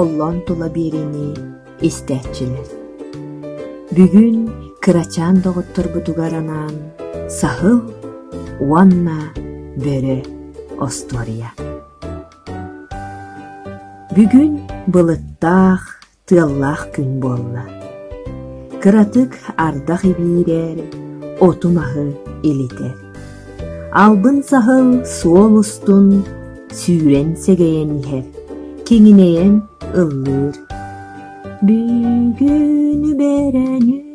Оллон тула биэриини истээччилэр Бүгүн кырачаан доҕотторбутугар анаан Саһыл уонна Бөрө остуоруйа Бүгүн былыттаах, тыаллаах күн буолла. Кыратык ардах ибиирэр, оту маһы илитэр. Албын-саһыл суол устун сүүрэн сэгэйэн иһэр, киҥинэйэн ыллыыр. Бүгүнү бэрэнү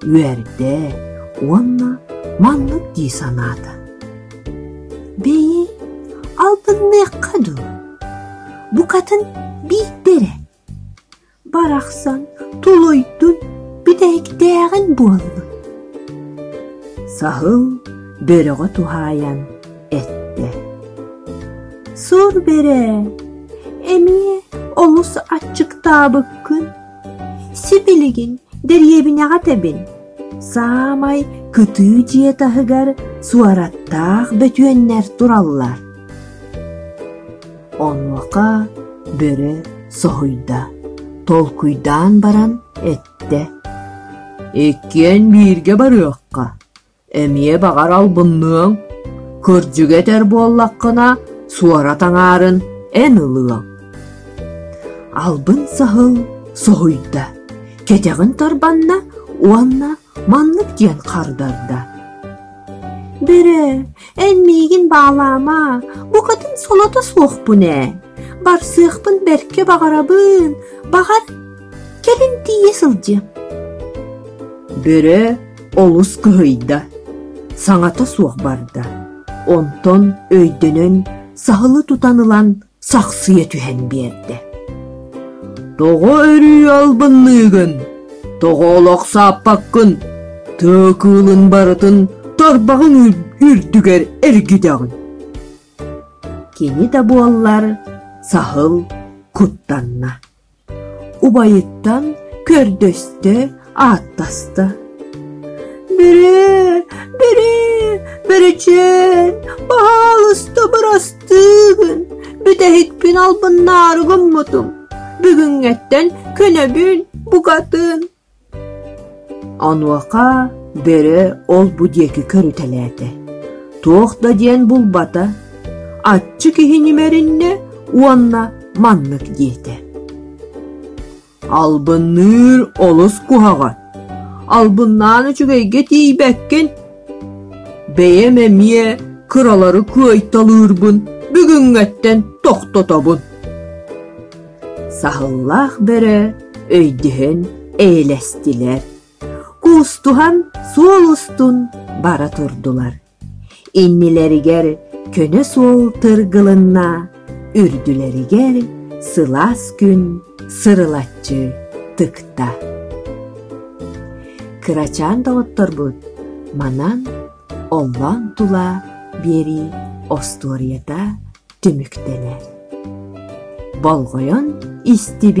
үөрдэ уонна маннык дии санаата: «Бэйи, албынныахха дуу, букатын биирдэ эрэ, барахсан тулуйдун, бүтэһиктээҕин буоллун» – саһыл бөрөҕө туһаайан эттэ: «Сур бэрэ, эмиэ олус аччыктаабыккын Сипилигин дэриэбинэҕэ тэбин. Саамай кытыы дьиэ таһыгар суораттаах бөтүөннэр тураллар. Онуоха бөрө соһуйда, толкуйдаан баран эттэ: «Иккиэн бииргэ барыахха, эмиэ баҕар албынныаҥ, кырдьыга этэр буоллаххына, суорат аҥаарын эн ылыаҥ. Албын саһыл соһуйда, кэтэҕин тарбанна уонна маннык диэн хардарда. Бөрө, эн миигин баалаама, букатын солото суохпун ээ. Барсыахпын бэркэ баҕарабын, баҕар Кэлин тиийэ сылдьыам. Бөрө олус кыһыйда, саҥата суох барда. Онтон өйдөнөн, саһылы тутан ылан сахсыйа түһэн биэрдэ. «Тоҕо өрүү албынныыгын? Тоҕо олох сааппаккын? Тыа кыылын барытын тарбаҕын үрдүгэр эргитэҕин!» Кини да буоллар, саһыл куттанна. убайыттан көрдөстө ааттаста бэрэ бэрэ бэричээн баһаалыста бырастыгын бүтэһикпин албыннаары гыммытым бүгүҥҥэттэн көнөбүн букатын Онуоха бөрө ол-бу диэки көрүтэлээтэ: туох да диэн булбата, аччы киһи ньимэриннэ уонна маннык диэтэ: «Албынныыр олус куһаҕан, албыннаан үчүгэйгэ тиийбэккин. Бэйэм эмиэ кыралары кыайталыырбын бүгүҥҥэттэн тохтотобун» Саһыллаах бөрө өйдөһөн эйэлэстилэр, куустуһан суол устун бара турдулар. Иннилэригэр көнө суол тыргылынна, үрдүлэригэр сылаас күн сырылаччы тыкта. Кырачаан доҕотторбут манан оллоон тула биэрии остуоруйата түмүктэнэр. Болҕойон истибит